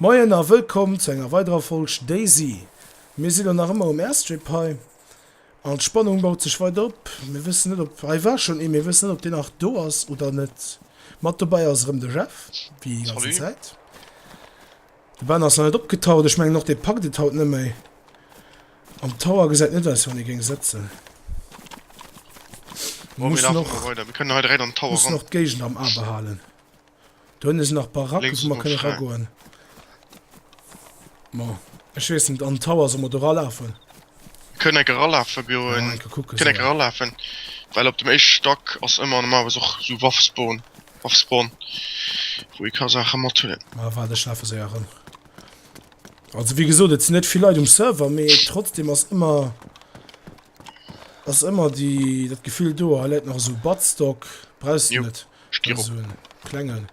Moien a wëllkomm zu enger weiderer Folg Daisy. Mir si lo nach ëmmer um Airstrip hei an d'Spannung baut sech weider op. Mir wëssen net op, hei war schonn ee, mir wëssen net op deen nach do ass oder net. Mat dobäi ass erëm de Jeff, wéi déi ganzen Zäit. De Ben ass nach net opgetaucht, ech mengen och dee packt et haut net méi. Am Tower gesäit net aus wéi wann ee géing sëtzen. Muss nach d'Géigend am A behalen. Do hunn ech nach Baracken, wou mer kënne ragoen. Ma ech weess net, an d'Tower solle mer do ralafen? Mir kënnen enke ralafe goen. Enke kucken. Kënnen enke ralafen, well op dem éischte Stack ass ëmmer normalerweis och esou Waffspawn, Waffspawn, wou ee ka Saache mathuelen. Ma waart, ech lafe séier erëm. Also wéi gesot, et sinn net vill Leit um Server, mee trotzdeem ass ëmmer, ass ëmmer déi, dat Gefill do, hei läit nach esou Buttstock, brauchs de net. Stier op. Soen klengen.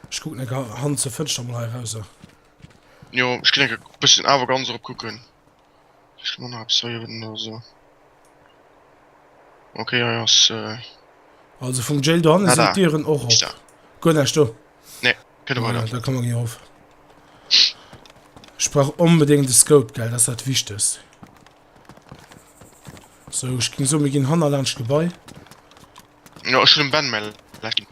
Ech kucken eng Hand zur Fënster mol hei rauser. Jo ech ginn eng bëssen awer ganz erop kucken. Ech man nach zwee Joer no so. Okay hei ass. Also vum Jail do hanne sinn Dieren och op. Guer näischt do. Nee kënne mer net. Da komme mer gi erof. Ech brauch onbedéngt e Scope gell, dat ass dat Wichtegst. So ech ging so mir ginn hanner laanscht d'Gebai. Ja ech hun dem Ben mäi Like ginn.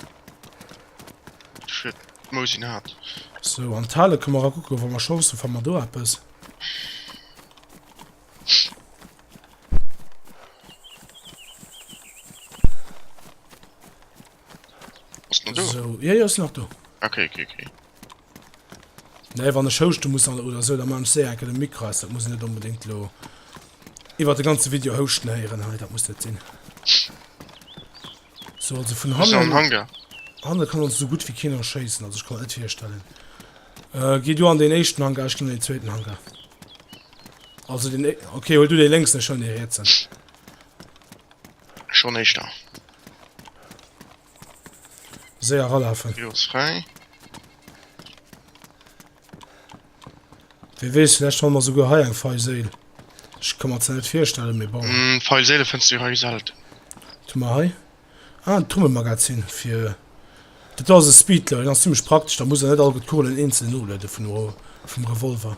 Ech huet d'Mousi nach hat. So an d'Hale kënne mer ra kucke wa mer Chance hu fa mer do eppes. Ass den do? So, jo jo ass nach do. Ok ok ok. Nee wann ech houschte muss an oder sou, da man ech séier enke de Mikro aus, dat muss een net onbedéngt lo iwwer de ganze Video houschten héieren hei, dat muss net sinn. So also vun Bist du am hannen, Hangar? hannen kann ons sou gutt wéi keen erschéissen, also ech kann mer net virstellen. Äh, gi du an deen éischten Hangar, ech ginn an deen zweeten Hangar. Also deen é, ok huel du dee lénksen, ech huelen dee rietsen. Schon eischter. Séier eralaafen. Rio ass fräi. Wee weess, vläicht fanne mer souguer hei eng fei Séil. Ech ka mer zwar net virstellen, mee bon. Hm, fei Séile fënns du hei selten. Wat hu mer hei? Ah, en Trummelmagazin fir. Dat do ass e Speedler, deen ass zimmlech praktesch, da muss een net all gutt d'Kugelen eenzel nolueden vun, vum Revolver.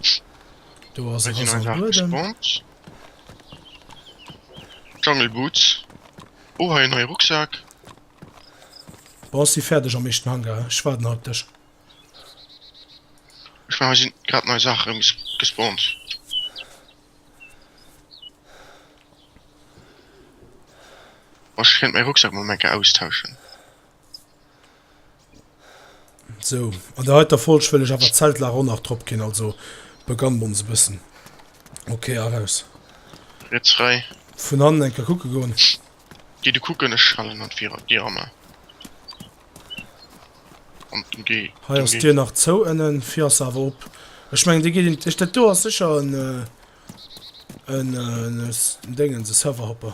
Do ass e Reservuer dann. Jungle Boots. Oh hei en neie Rucksak. Bon, ech si fäerdeg am éischten Hangar. Ech waarden hei op dech. Ech mengen hei sinn grad nei Saache rëm gespawnt. Ech kéint mäi Rucksak mol eng Kéier austauschen. So, an der heiter Folg wëll ech awer d'Zeltlager och nach drop ginn, also beganne mer ons e bëssen. Okay, eraus. Riets fräi. Vun hannen eng Kéier kucke goen. Gi du kucken, ech halen an d'Dir am A. An dem G. Hei ass d'Dir nach zou ënnen, vir ass se awer op. Ech mengen, dee geet in d'Éischt. Dat do ass sécher en, en, en Déngens, e Serverhopper.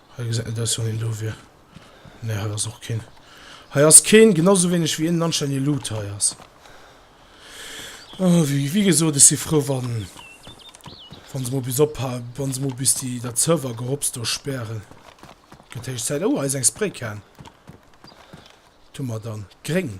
Hei gesäit net aus wou hien do wier. Nee hei ass och keen. Hei ass keen, genau sou wéineg wéi een anscheinend ee Loot hei ass. Oh wéi wéi gesot ech si frou wann wann se mol bis opha wann se mol bis déi dat Server Gehopst do spären. Gëtt héich Zäit. Oh hei ass eng Spraycan. Wat hu mer dann? Gréng.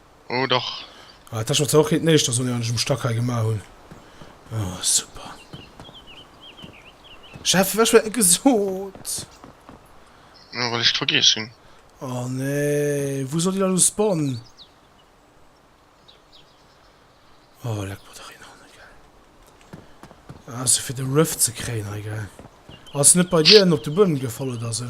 Oh dach. Ah, dat war zwar och net den éischte Sonneau, deen ech um Stack hei gemaach hunn. Oh, super. Chef, ech war gesot. Ja, well ech et vergiess hunn. Oh nee, wou soll déi da lo spawnen? Oh, leck mer dach een an, gell. Ah, se fir de Rift ze kréien hei, gell. Ass net bei dir en op de Buedem gefall oder sou?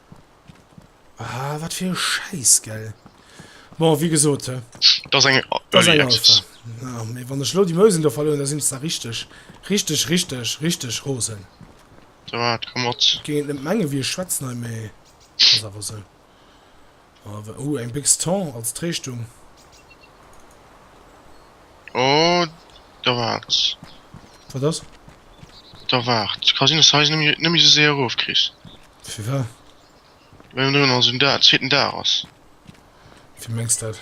Ah, wat fir e Schäiss, gell? Bon, wéi gesot, hä? Dat ass eng Early Access. Ah, mee wann ech elo déi Mousen do verlueren, da sinn ech zwar richteg, richteg, richteg, richteg rosen. Dat komm mat. Et géing een net mengen, wéi ech schwätzen hei, mee ass awer esou. Awer oh eng Bix Thon als Tréischtung. Oh da waarts. Wat ass? Da waarts, ka sinn dass de hei se nëmme sou séier erof kriss. Firwat? Well ënnendrun also den Dag, zweeten Dag ass. Wéi mengs dat?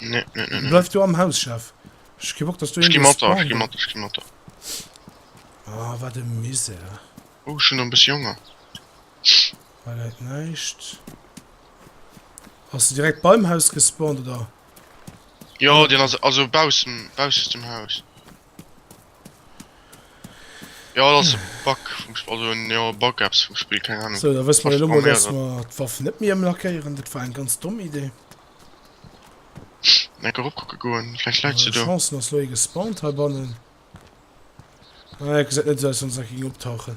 Nee, nee, nee, nee. Bleif du am Haus, Chef. Ech gi Bock, dass du irgendwo spawn. Ech gi mat, ech gi mat. Ah, wat e Misär. Oh, ech hun nach e bëssi Honger. Hei läit näischt. Ass de direkt beim Haus gespawnt, oder? Jo, deen ass also baussen, bausses dem Haus. Jo dat ass e Bug vum Spill, also en jo Bug eppes vum Spill, keng Ahnung. So da wësse mer jo elo mol, dass Programméieren. mer d'Waffen net méi ëmlackéieren. Dat war eng ganz domm Idee. Eng Kéier eropkucke goen, vläicht läit se Äh, do. Chancen ass lo ee gespawnt heibannen. Ah, et gesäit net esou aus, wéi wann se nach géing optauchen.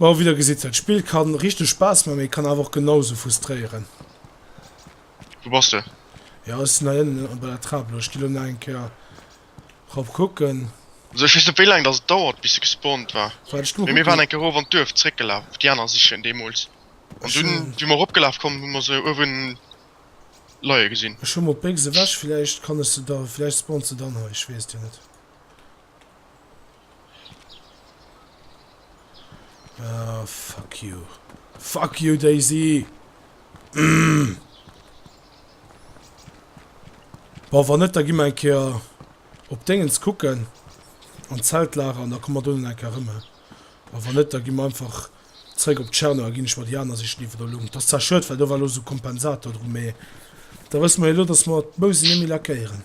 Bon, wéi der gesitt, dat Spill kann richteg Spaass man, mee kann awer och genau sou frustréieren. Wou bass de? Jo, ech sinn hei ënnen bei der Trap elo. Ech gi elo nach eng Kéier rop kucken. Also ech weess net wéi laang dass et dauert bis se gespawnt war, Waart, ech gi mol mee mir waren kucken. eng Kéier erof an d'Duerf zréckgelaf fir déi aner sichen deemools an Ech dunn wéi mer eropgelaf kommen hu mer se uewen leie gesinn. Ech hu mol d'Bécks ewech, villäicht kann ech se da, villäicht spawnt se dann hei, ech weess et jo net. Ah, fuck you. Fuck you, Daisy! Mm. Boah, wann net, da gi mer eng Keer op Dingens kucken. An Zeltlager, an da kommen wir donnen eng Keer rëm. A wann net, da gi mer einfach zréck op Tscherno, a ginn ech mer déi aner sichen, déi wir do lo hunn. T'ass zwar schued, well do war lo sou Kompensator dru, mee da wësse mer jo lo, dass mer d'Mouse net méi lackéieren.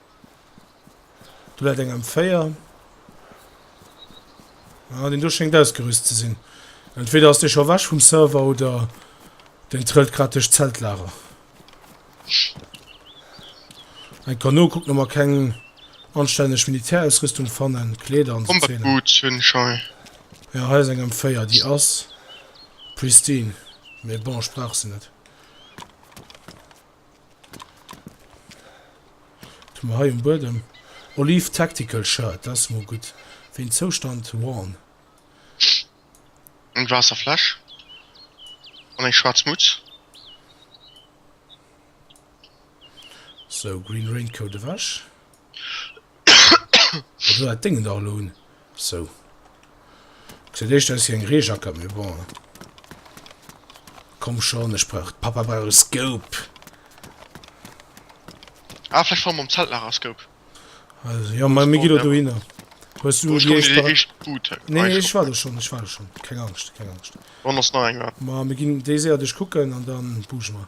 Do läit eng M4. Ah, deen do schéngt ausgerüst ze sinn. Entweder ass dee scho weg vum Server oder deen trëllt grad duerch d'Zeltlager. Eng Kano kuckt no, mer keng anstänneg Militärausrüstung fannen, Kleeder an sou Zeen. Jo, hei ass eng M4, déi ass pristine, mee bon, ech brauch se net. Hun mer hei um Buedem Olive Tactical Shirt, dat ass mol gudd. Wéin Zoustand worn. Eng Waasserfläsch an eng schwaarz Mutz. Sou, Green Raincoat ewech. Esou hat déngen dach elo un. Sou gesäit éischter aus wéi eng Reejackert, mee bon. Komm schon, ech brauch, Papa brauch e Scope. Ah vläicht fanne mer am Zelt nach a Scope. Also jo, ma mir ginn elo dohinner. Hues du déi éischt Bar? Nee nee, ech war do schon, ech war do schon. Keng Angscht, keng Angscht. Wann ass nach eng war. Ma mir ginn déi séier duerchkucken an da buge mer.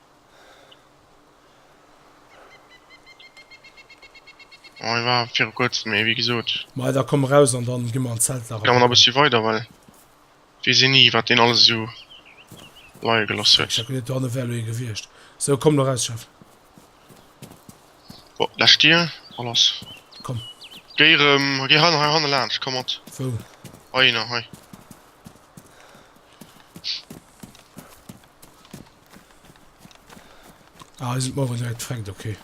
Ech war viru kuerzem, mee wéi gesot. Maja da komm eraus an dann gi mer an d'Zeltlager. Ga mer nach e bëssi weider, well weess een ni wat deen alles esou leie gelooss huet. Ech denken net dohanne wär elo ee gewiescht. Sou komm elo eraus Chef. Bon läsch d'Dier a lass. Komm. Géi erëm, géi hei hei hanne laanscht, komm mat. Wou? Heihinner, hei. Ah, sind morgen direkt gefängt, okay.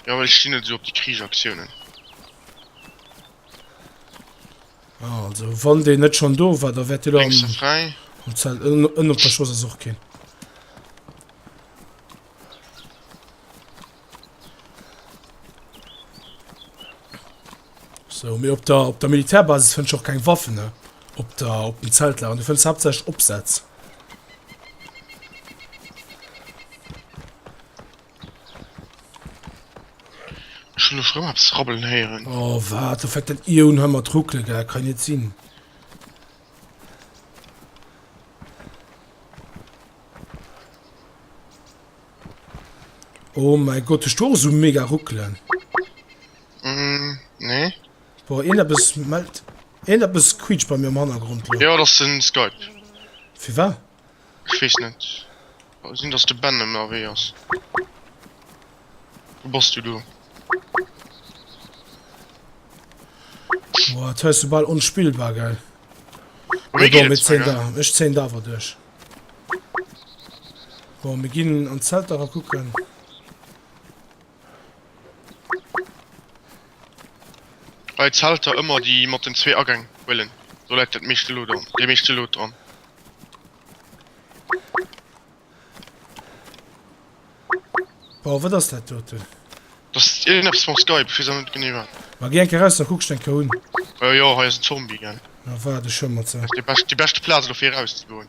Ja, weil ich stehen nicht so auf die Kriegaktionen. Ah, also, wann der nicht schon do war, da wird der am, frei. am Zelt, in, in der Schoß ist auch kein. Sou, mee op der, op der Militärbasis fënns de och keng Waffen, ne? Op der, op den Zeltlagern, du fënns haaptsächlech Opsätz. Ech hunn elo rëm eppes rabbelen héieren. Oh, wat? Du fänkt dat Ion hei mat ruckele, gell? Kann net sinn. Oh mein Gott, ech do sou mega ruckelen. Nee. Boah, ieneppes mellt. Ieneppes quietscht bei mir am Hannergrond elo. Jo, dat ass den Skype. Firwat? Ech weess net. Kann sinn dass de Ben ënnerwee ass. Wou bass du do? Boah, d'Haus ass bal onspillbar, gell? Bei mir geet et zwar, gell? Ech zéien da awer duerch. Bon, mir ginn an d'Zelt era kucken. Bei Zelter ëmmer déi mat den zwee Agäng huelen, do läit dat meeschte Lot an, déi meeschte Lot dran. Wow, wat ass dat doten? Das ist irgendwas von Skype, ich weiß auch nicht genau was. Mal geh enke raus, da guckst du enke un. Ja, äh, ja, hier ist ein Zombie, gell. Na, war das schon mal so. Das ist die, best, die beste Platz dafür rauszubauen.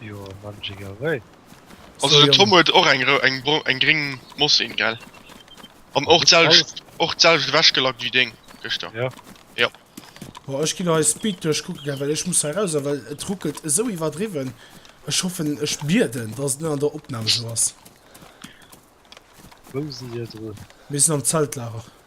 Jo, Magic away. Also den Tom huet och eng eng bro eng gring Mossin gell? An och d'selwecht och d'selwecht ewech gelackt wéi deng gëschter. Jo. Jo. Boah ech ginn hei Speed duerch kucke gell well ech muss hei raus well et ruckelt esou iwwerdriwwen. Ech hoffen ech bieden dass et net an der Opnahm esou ass. Wou si hir drun? Mir sinn am Zeltlager.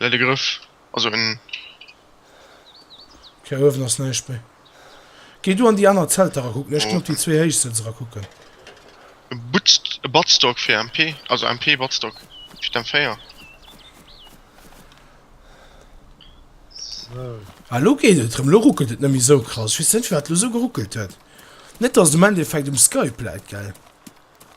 well de Grëff ass un. Hir Uewen ass näischt méi. Géi du an déi aner Zelter rakucken, ech ginn op déi zwee héichsten se rakucken. E Butzt, e Batzdock fir MP, also MP Batzdock fir d'M4. Sou. Ah, elo geet et erëm, elo ruckelt et net méi esou krass. Ech weess net firwat elo esou geruckelt huet. Net dass et um Endeffekt um Skype läit, gell?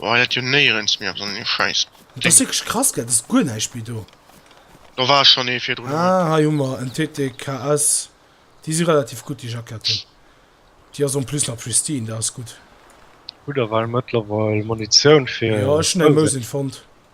Woah dat jo néierens méi ass an deem scheiss Ding. Ass wierklech krass gell, et ass guer näischt méi do. Do war schon ee virdrun. Ah hei hu mer en TTKS, déi si relativ gutt déi Jacketten. Déi ass en plus nach pristine, dat ass gutt. Hutt der well mëttlerweil Munitioun fir. Jo ech hunn eng Mosin fonnt.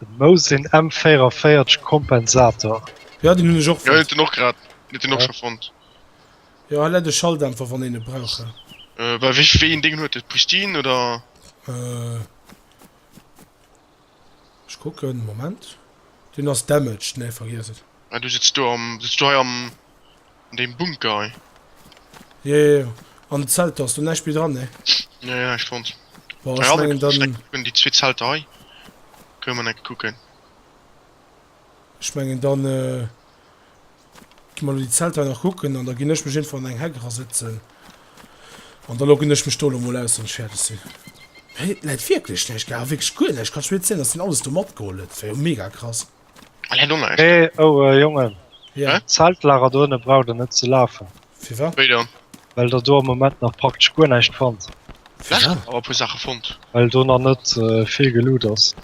Den Mous sinn M 44 Kompensator. Jo den hun ech och fond. Jo den och grad net den och schon fond. Jo hei läit e Schalldämpfer wann een e brauch hei. Bah wéi een deen huet e Pristin oder? Ech kucken Moment. Deen ass damaged nee vergiess et. Ah du sëtz do am sëtz du hei am. Deen Bunker hei. Jo jo jo, an de Zelter ass do näischt méi dran, ne? Jo jo, ech fonnt. Bon, ech mengen dann. Déi zwee Zelter hei goe mer enke kucken. Ech mengen dann gi mer elo déi Zelter hei nach kucken an da ginn ech mech iergendwou an eng Heck erasetzen an da loggen ech mech do elo mol aus wann ech fäerdeg sinn. Hei läit wierklech näischt, gell? Wierklech guer näischt, kannst du mir net zéien, dass deen alles do matgeholl huet? Dat wär jo mega krass. Hee oh Jongen, d'Zeltlager dohinne braucht der net ze lafen, well der do am Moment nach praktesch guer näischt fannt, well do nach net vill geloot ass,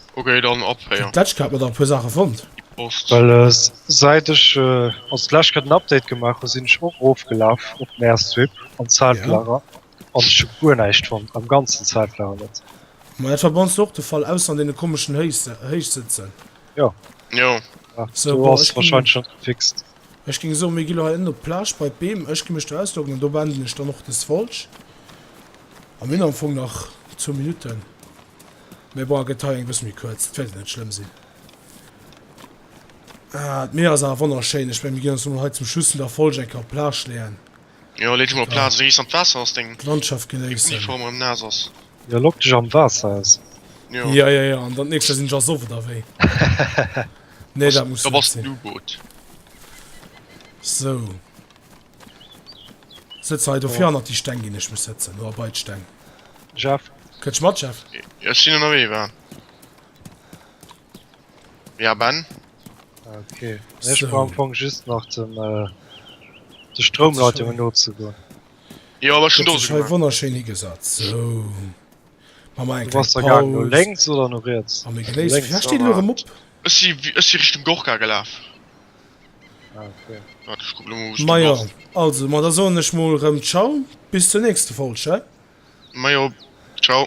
well säit ech also d'lescht Kéier den Update gemaach hu sinn ech och erofgelaf op den Airstrip an d'Zeltlager. An ech hu guer näischt fonnt, am ganzen Zeitraum net. Ma dat war bei ons och de Fall, ausser an deene komeschen Héichsëtzen. Jo. Jo. So, bon, ech ginn. Ech géing soen, mir gi lo hei ënnen op d'Plage bei d'Beem. Ech gi mech do ausloggen an do beenden ech dann och dës Folg. A mir hunn am Fong nach zwou Minutten. Mä bon, a gëtt hei eng bësse méi kuerz. Dat wäert jo net schlëmm sinn. Ah, d'Mier ass awer wonnerschéin. Ech mengen, mir ginn ons emol hei zum Schluss vun der Folg eng Kéier op d'Plage leeën. Jo lee dech mol op d'Plaz wéi s an d'Waasser ass deng Landschaft genéissen. Uniform erëm naass ass. Jo lock dech am Waasser aus. Jo. Ja ja ja an dann d'nächst Joer sinn ech ersoff oder wéi? Nee dat muss net sinn. Da bass den U-Boot. Sou. Sëtz hei dofir hannert déi Steng ginn ech mech sëtzen oder bei d'Steng. Jeff. Kënnst mat Jeff? Ech sinn ënnerwee war. Ja Ben? Okay, ech brauch am Fong just nach den äh, de Stroumleitungen no ze goen. Jo awer schon dose gemacht. wonnerschön higesat so lenks oder no riets Ech si ech si Richtung Gorka gelaf. Ah, okay. Wat ech kucken hu Ma jo also ma da soen ech mol rëm Ciao bis zur nächste Folg, he? Ma jo, ciao.